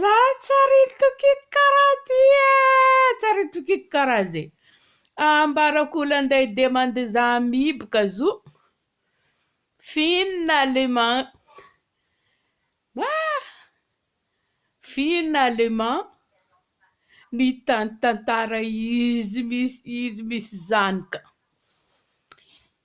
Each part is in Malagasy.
Za tsy arin-tokiko karaha ty e! Tsy arin-tokiko karaha zay. Ambarako olanday demande za amibo ka zo fin allemand. Wah! Fin allemand ny tan- tantara izy misy izy misy zany ka.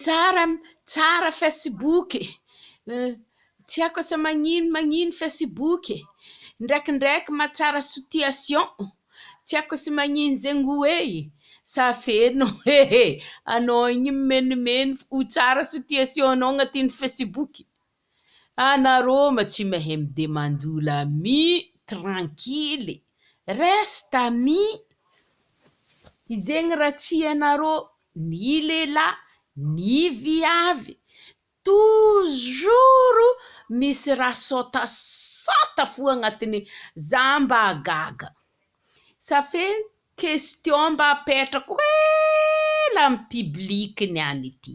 Tsara tsara facebook e! tsy haiko asa magnino magnino facebook e! ndraikindraiky mahatsara situation, tsy haiko asa magnino zegny ho e e! sa feno e e! anao igny mimenimeno ho tsara situation-nao agnatin'ny facebook. Ana Roma tsy mahay mi demande ola mi tranquille reste ami izegny ra tsy ianarô ni lehilahy ni viavy toujours misy ra sôtasôta fo agnatiny za mba gaga sa fe question mba apetrako ela am public ny any ty.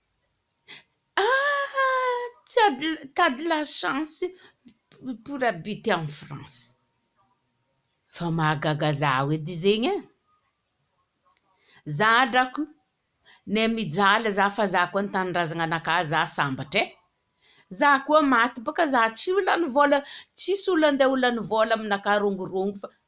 Ah! tu as de la, tu as de la chance pour habiter en France. Fa mahagaga zaho edy zegny e! Zaho drako ne mijaly za fa za koa an-tanindrazagna anakà za sambatra e! Za koa maty bôka za tsy ho lany vôla, tsisy olo andeha ho lany vôla aminakà rongorongo fa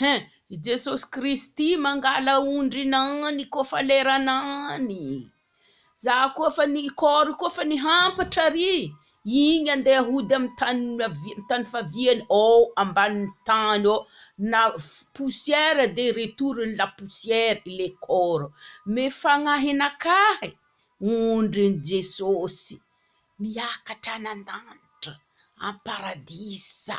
Hein! I Jesosy Kristy mangala ondrina any ko fa lerana any! Za koa fa ny corps ko fa nihampatra ary igny andeha hody amy tany avia- tany faviany ao ambany tany ao na poussière de retour ny la poussière le corps mais fagnahy nakahy ondrin'i Jesosy miakatra any an-danitra am-paradisa.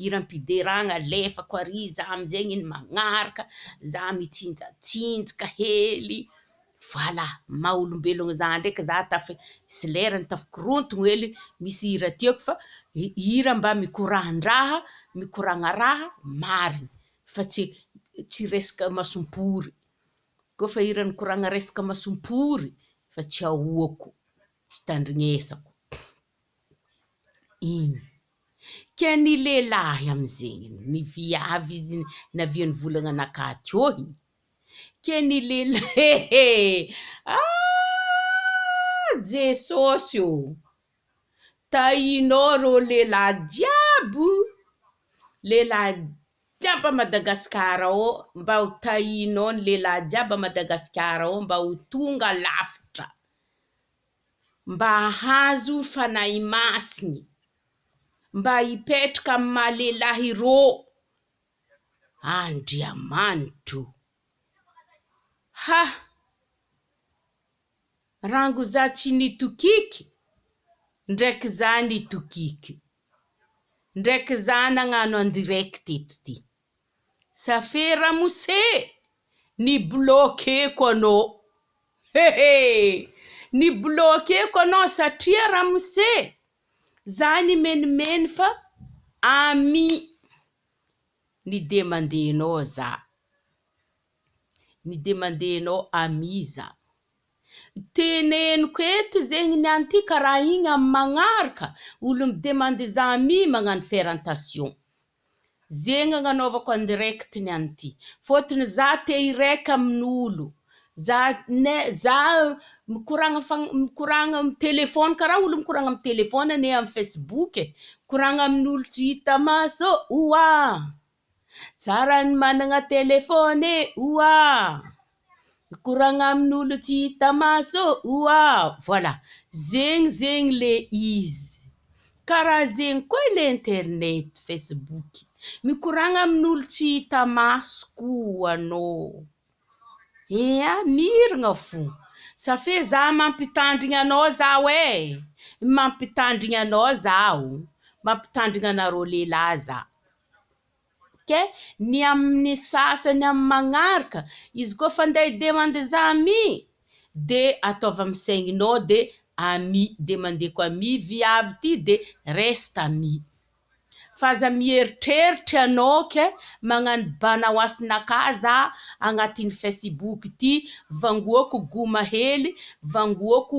hiram-pideragna alefako ary za amin'izegny iny magnaraka za mitsinjatsinjaka hely voilà maha olombelogno za ndraiky za tafa- misy lerany tafakorotogno hely misy hira tiako fa hi- hira mba mikorahan-draha mikoragna raha marigny fa tsy tsy resaka masom-pory koa fa hira nikoragna resaka masom-pory fa tsy ahoako tsy tandrignesako iny ke ny lehilahy amizegny ny viavy izigny naviany volagna naka teo igny ke ny lehilahy aahh Jesosy ô tahinao rô lehilahy jiaby o lehilahy jiaby a Madagasikara ao mba ho tahinao ny lehilahy jiaby a Madagasikara ao mba ho tonga lavitra. mba hahazo Fanahy Masiny, mba hipetraka amin'ny maha lehilahy rô Andriamanitro. Ha! Rango za tsy nitokiky, ndraiky za nitokiky, ndraiky za nagnano en direct eto ty. Ça fait ramose! Ni bloquer-ko anao! He he! Ni bloquer-ko anao satria ramose! Za nimenimeny fa ami ny demande-nao za. Ni demande-nao ami za. Teneniko eto zegny ny an'ity ka raha igny amin'ny magnaraka olo mi-demander za ami magnano ferrentation. Zegny agnanaovako en direct ny an'ity. Fôtony za te hi-rec amin'olo. Za ne za mikoragna fagn- mikoragna am telephone karaha olo mikoragna am telephone ne am facebook e. Mikoragna amin'olo tsy hita maso ô! Oah! Tsara ny managna telephone e oa! Mikoragna amin'olo tsy hita maso oa! Voilà, zegny zegny le izy, karaha zegny koa ilay internet, facebook, mikoragna amin'olo tsy hita maso koa anô, ia, miragna fô, sa fe za mampitandrigny anô zaho e, mampitandrigny anô zaho, mampitandrigny anareo lehilahy za. ok ny amin'ny sasany amin'ny manaraka izy koa fa ndeha demande za ami de ataovy amin'ny saigny nao de ami demandeko ami viavy ty de reste ami fa aza mieritreritra ianao ok magnano bana ho asin'aka za agnatin'ny facebook ty vangoako goma hely vangoako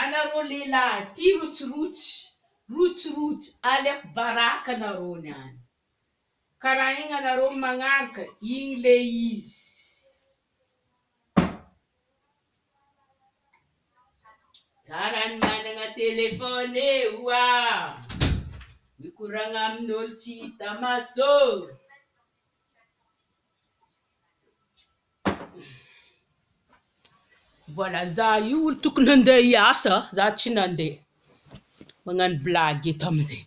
Anareo lehilahy aty rotsirotsy rotsirotsy aleko baraka anareo ny any ka raha igny anareo magnaraka igny le izy. Tsara ny managna téléphone e oa mikoragna amin'olo tsy hita maso ô. Voilà za io olo tokony handeha hiasa za tsy nandeha magnano blague eto amzay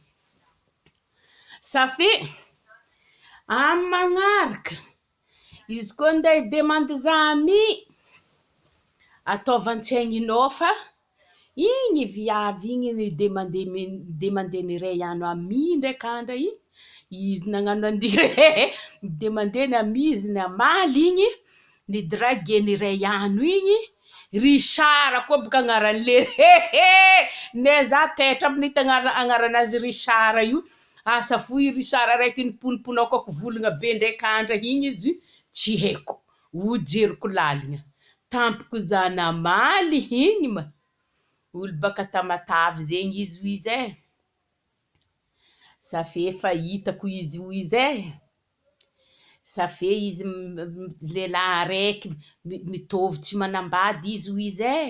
sa fe amy magnaraka izy koa nde hi demande za ami ataovan-tsaigninao fa Igny viavy igny ny de mande de mande mireille ano ami ndray ka ndray i izy nagnano andihy rehehe de mande ny ami izy ny amaly igny ny drague ny ray ano igny Richard koa boka agnarany le hehe ne za taitra aby ny tagnara agnaranazy Richard io asa fo i Richard raiky niponiponaokako volagna be ndray ka ndray igny izy tsy haiko. Ho jeriko laligna tampoko za namaly igny ma olo baka Tamatave zegny izy hoy izy eh! Sa fe efa hitako izy hoy izy eh! Sa fe izy lehilahy araiky mitovy tsy manambady izy hoy izy eh!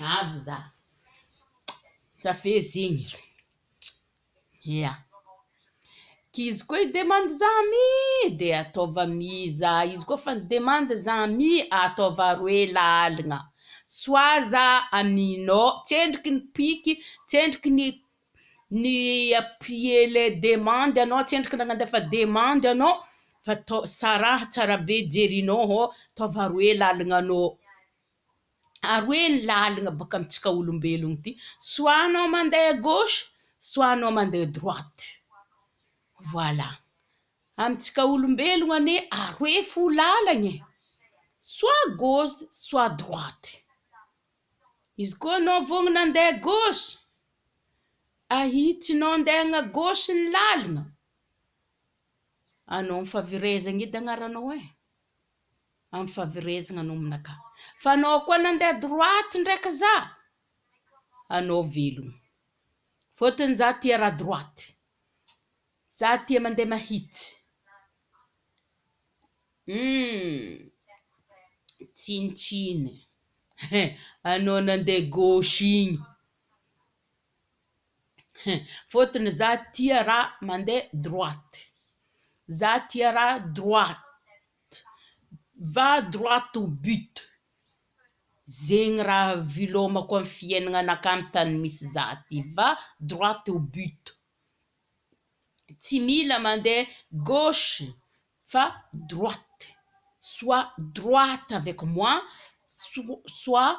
Avy za. Cafe zigny. Ia. K'izy koa hi-demande za ami de ataova ami za. Izy koa fa ni-demande za ami ataova roe laligna. Soa za aminao. Tsendriky ny piky, tsendriky ny ny appuyer le demande anao, tsendriky ny nandefa demande anao fa tao saraha tsara be jerinao hô, ataova roe laligna anao. ary hoe ny lalina boaka amintsika olombelogno ity soit anao mandeha gauche soit anao mandeha droite voilà amintsika olombelogno anie aroe fo lalagna e soit gauche soit droite izy koa anao vogny nandeha gauche ahitsinao andeha agna gauche ny lalagna anao ny fahaverezagna edy agnaranao e amin'ny faverezagna anao aminakà. Fa anao koa nandeha droite ndraiky za, anao velogno. Fôtony za tia raha droite. Za tia mandeha mahitsy. Humm, tsinontsinoy. He, anao nandeha gauche igny. Fotony za tia raha mandeha droite, za tia raha droite, va droite au but, zegny raha vilômako amy fiainagnanakà amy tany misy za ty, va droite au but, tsy mila mandeha gauche fa droite, soit droite avec moi soit.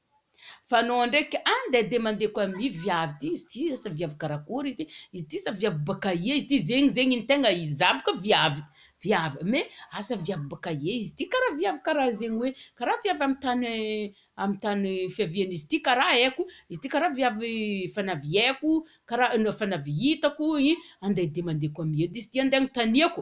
Fa anao ndraiky any dia dia mandeha ko amia viavy ty izy ty asa viavy karakory ty izy ty sa viavy bakaia izy ty zegny zegny ny tegna izy za boka viavy viavy me asa viavy bakaia izy ty kara viavy kara zegny hoe kara viavy amy tany amy tany fiaviany izy ty kara aiko izy ty kara viavy efa naviaiko kara efa navy hitako i andeha dia mandeha ko amia edy izy ty andeha anontaniako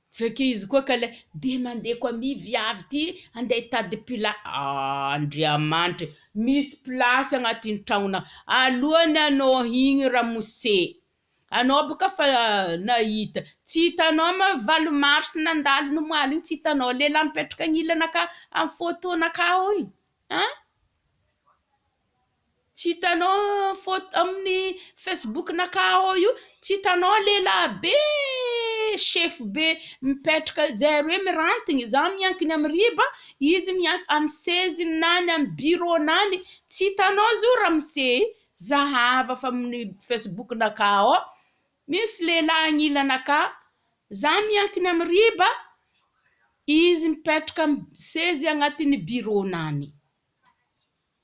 Veke izy koa ka le de mandeha ko ami viavy ty handeha hitady pla ah Andriamanitra e misy place agnatin tragnona alohany anao igny ramose anao boka fa nahita tsy hitanao ma valo mars nandalo nomaly igny tsy hitanao lehilahy mipetraka agnilanakah am photo nakah igny an. Tsy hitanao photo amin'ny Facebook nakà ao io, tsy hitanao lehilahy be sefo be mipetraka eo, zay roe miranty, izaho miankina amin'ny riba, izy miankina amin'ny seziny na any amin'ny bureau-ny any, tsy hitanao izy io ramose e? zahava fa amin'ny Facebook nakà ao, misy lehilahy agnilanakà, izaho miankina amin'ny riba, izy mipetraka amin'ny sezy agnatin'ny bureau-ny any.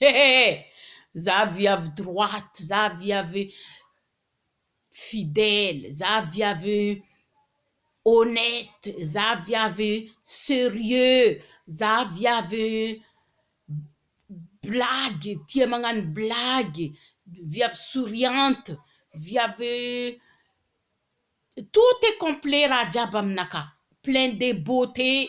Hehehe! Za viavy droite, za viavy fidèle, za viavy honnête, za viavy serieux, za viavy blagy, tia magnano blagy, viavy souriante, viavy tout est complet raha jiaby aminakahy, plein de beauté.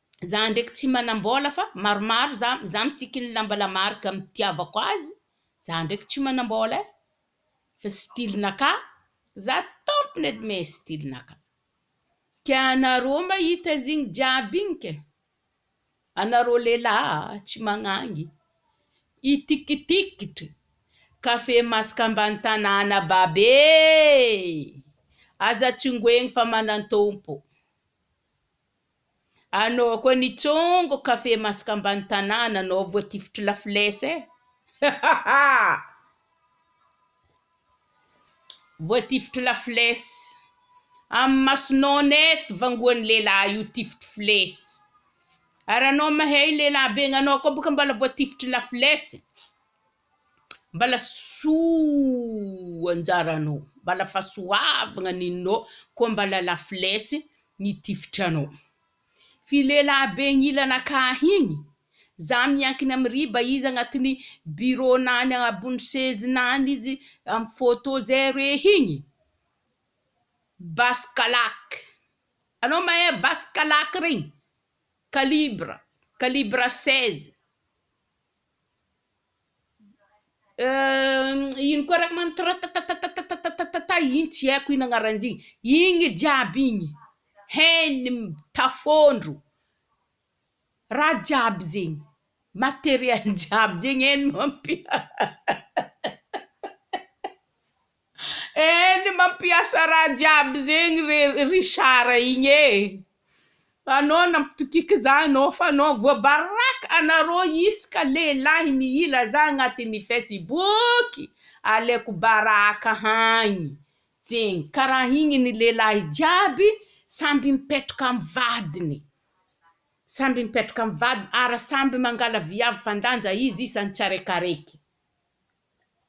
Za ndraiky tsy manambola fa maromaro za za mitsiky ny lamba la marque am tiavako azy za ndraiky tsy manambola eh fa style naka za tompony edy me style naka tianareo mahita zigny jiaby igny ke anareo lelah tsy magnangy itikitikitry cafe masaka ambany tanàna babe eh aza tsingoegny fa manan-tompo. Anao koa nitsongo kafe masaka ambany tanàna anao voatifitry la flèche eh! Hahaha! Voatifitry la flèche! Amin'ny masonao net vangoan'ny lehilahy io tifitry flèche! Ary anao mahay lehilahy be anao koa boka mbola voatifitry la flèche! Mbala soa anjara anao, mbala fahasoavagna ny nao, koa mbala la flèche ny tifitry anao. Fy lehilahy be agnilana akany igny, za miankina amy riba izy agnatin'ny birô-nany ambony sezinany izy amy fôtô zay re igny, basy kalaky, anao mahay basy kalaky regny? Kalibra, kalibra seize. Euh ino koa reko manitro ratatatatatatatata iny tsy aiko ino agnaran'izy igny igny jiaby igny heiny tafondro raha jiaby zegny materiel jiaby zegny heiny mampiasa. Eny mampiasa raha jiaby zegny re Richard igny e! Fa anao nampitokiky za anao fa anao voabaraka anareo isaka lehilahy mihila za agnatin'ny fesiboky aleko baraka hagny tsigny karaha igny ny lehilahy jiaby samby mipetraka amy vadiny samby mipetraka amy vadiny ary samby mangala viavy fandanja izy isan'ny tsiaraikaraiky.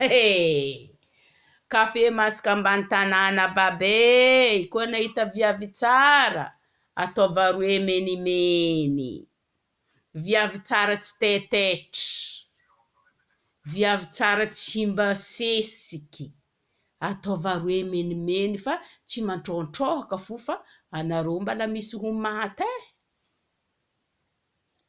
He! Café masaka ambany tanàna babe e! Koa nahita viavy tsara ataova roe menimeny. Viavy tsara tsy taitaitra. Viavy tsara tsy mba sesiky. Ataova roe menimeny fa tsy mantrohantrohaka fo fa anareo mbala misy ho maty e!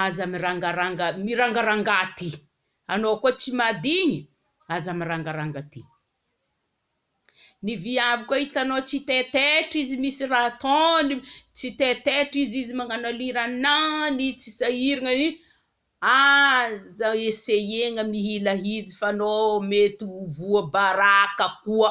aza mirangaranga mirangaranga aty anao koa tsy madigny aza mirangaranga aty ny viavy koa hitanao tsy taitaitra izy misy raha ataony tsy taitaitra izy izy magnano aliranany tsy sahiragna ny aza eseyegna mihila izy fa anao mety ho voa baraka koa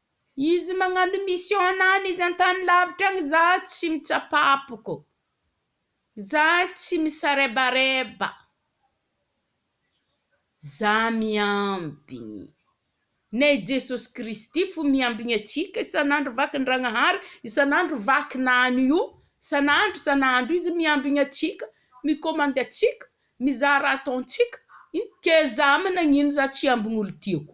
Izy magnano mission any izy antany lavitra agny za tsy mitsapapoko, za tsy misarebareba, za miambigny nay Jesosy Kristy fo miambigny atsika isan'andro vakindragnahary isan'andro vakina any io isan'andro isan'andro izy miambigny atsika mikomandy atsika mizaha raha ataontsika in keza amin nagnino za tsy hiambigny olo tiako.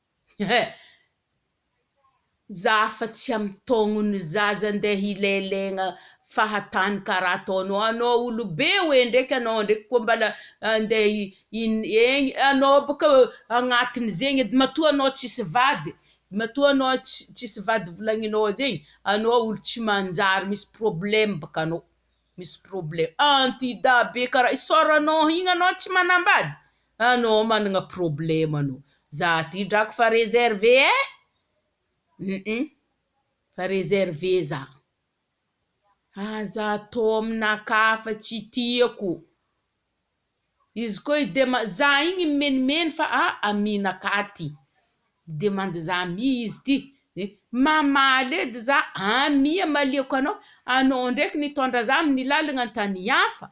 Za fa tsy amitogno ny zaza ndeha hilelegna fahatany karaha ataonao anao olobe oe ndreky anao ndreky koa mbala ndeha egny anao boka agnatiny zegny edy matoa anao tsisy vady matoa anao tsisy vady volagninao zegny anao olo tsy manjary misy probleme boka anao misy probleme anti-dahy be karaha isaoranao igny anao tsy manambady Anao managna problème anao. Za ty drako fa reservé eh! Hum fa reservé za. Aza atao aminakahy hafa tsy tiako. Izy koa i dema za igny mimenimeny fa a aminakahy ty. Midemandy za amia izy ty. Mamaly edy za amia amaliako anao. Anao ndraiky nitondra za amin'ny lalagna an-tany hafa.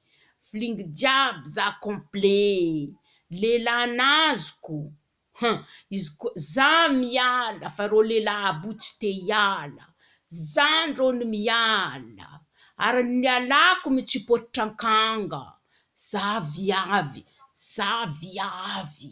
Flingue jiaby za complet. Lehilahy nazoko Hum izy koa za miala fa reo lehilahy abo tsy te hiala Za ndrô no miala Ary ny nialako mitsipotra ankanga Za viavy Za viavy